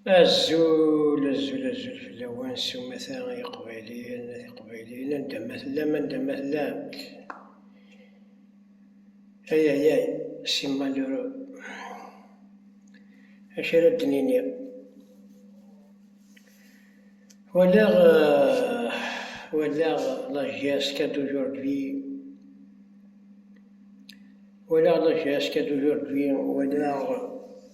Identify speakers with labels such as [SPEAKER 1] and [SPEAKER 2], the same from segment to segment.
[SPEAKER 1] Azul, azul, azul fell-awen s umata ay iqbayliyen, ay iqbayliyen, anda ma tellam, anda ma tellam. Ay ay ay, si malheureux. Acu ara d-nini? Walaɣ, walaɣ la geste qu'à d'aujourd'hui. Walaɣ la geste qu'à d'aujourd'hui, walaɣ.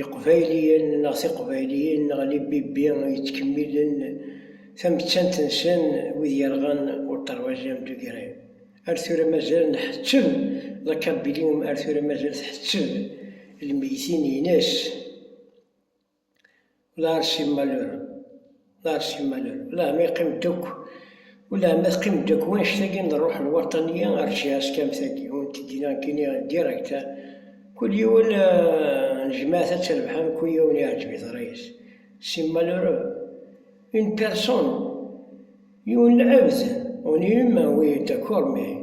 [SPEAKER 1] Iqbayliyen neɣ tiqbayliyin neɣ libibbi yettkemmilen tamettant-nsen wid yerɣan ulṭarwaj amdugri. Ar tura mazal nḥettem, la Kabbilium ar tura mazal tḥettem lmeytin-ines. Lars Immalur. Merci Malal. Ulama yeqqim-d akk, ulama teqqim-d akk wanect-agi n rruḥ n waṭaniya ar tjaskam-tagi, ur n-tegi neɣ kini direct, kul yiwen n jmaat ad terbeḥ am kul yiwen iɛǧeb-it ṛṛay-is. Si malheureux, une personne, yiwen lɛebd, on est humain, oui, d'accord, mais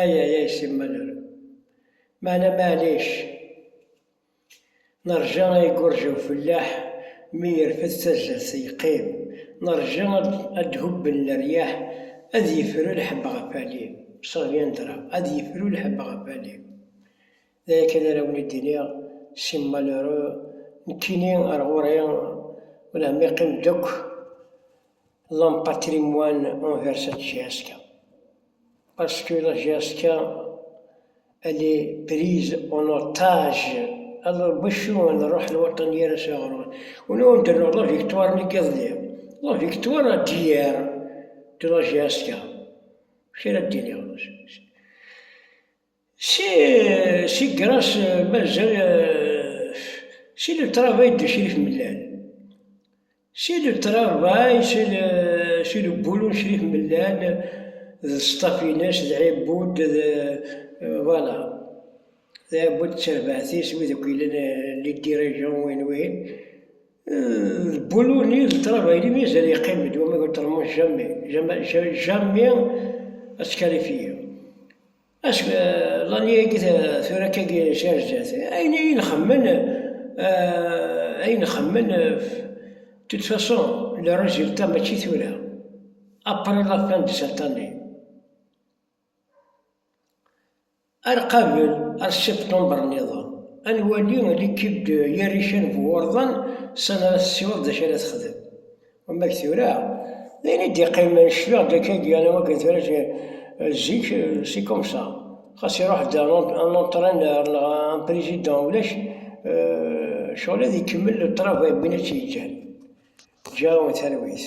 [SPEAKER 1] Aya ay Si Miller. Meɛna maɛlic, nerja ad yeggerǧ ufellaḥ mi yerfed tazart yeqqim, nerja ad d-hubben leryaḥ, ad yefru lḥebb ɣef alim, Saviendra, ad yefru lḥebb ɣef alim. D aya kan ara wen-id-iniɣ, si malheureux, nekkini ar ɣur-i, ulah ma iqqim-d akk l'un patrimoine envers la GSK. Parce que la GSK, elle est prise en otage. Alors bacu ad nruḥ lwaṭan yir ass ɣer ɣur-i? Ur awen-d-rennuɣ la victoire n yiḍelli, la victoire d'hier de la GSK. Amek ara d-iniɣ? C'est grâce mazal c'est le travail de Crif Mellal c'est le travail c'est le boulot de Crif Mellal d ṣṣtaf-ines d Ɛibud d voilà d Ɛibud d terbaɛt-is wid akk yellan les dirigeants wayen wayen d boulot-nni d travail-nni mazal yeqqim-d wama ur termiḍ jamais jamais jamais à se qualifier Acku Lani-agi tura akka-agi jerǧet, ayen i nxemmen, ayen nxemmen, de toute façon, le résultat mačči tura, après la fin de cette année. Ar qabel, ar septembre nniḍen, ad nwali l'équipe de Yarican Buurdan s ara tessiweḍ d acu ara texdem. Amek tura, d ayen i d-iqqimen, cfiɣ-d akka i d-yerra wakken tura zik, si komsa. Xas iruḥ-d un antreneur neɣ un président ulac, ccɣel ad ikemmel le travail n win i tt-yeǧǧan. Ǧǧiɣ-awen talwit.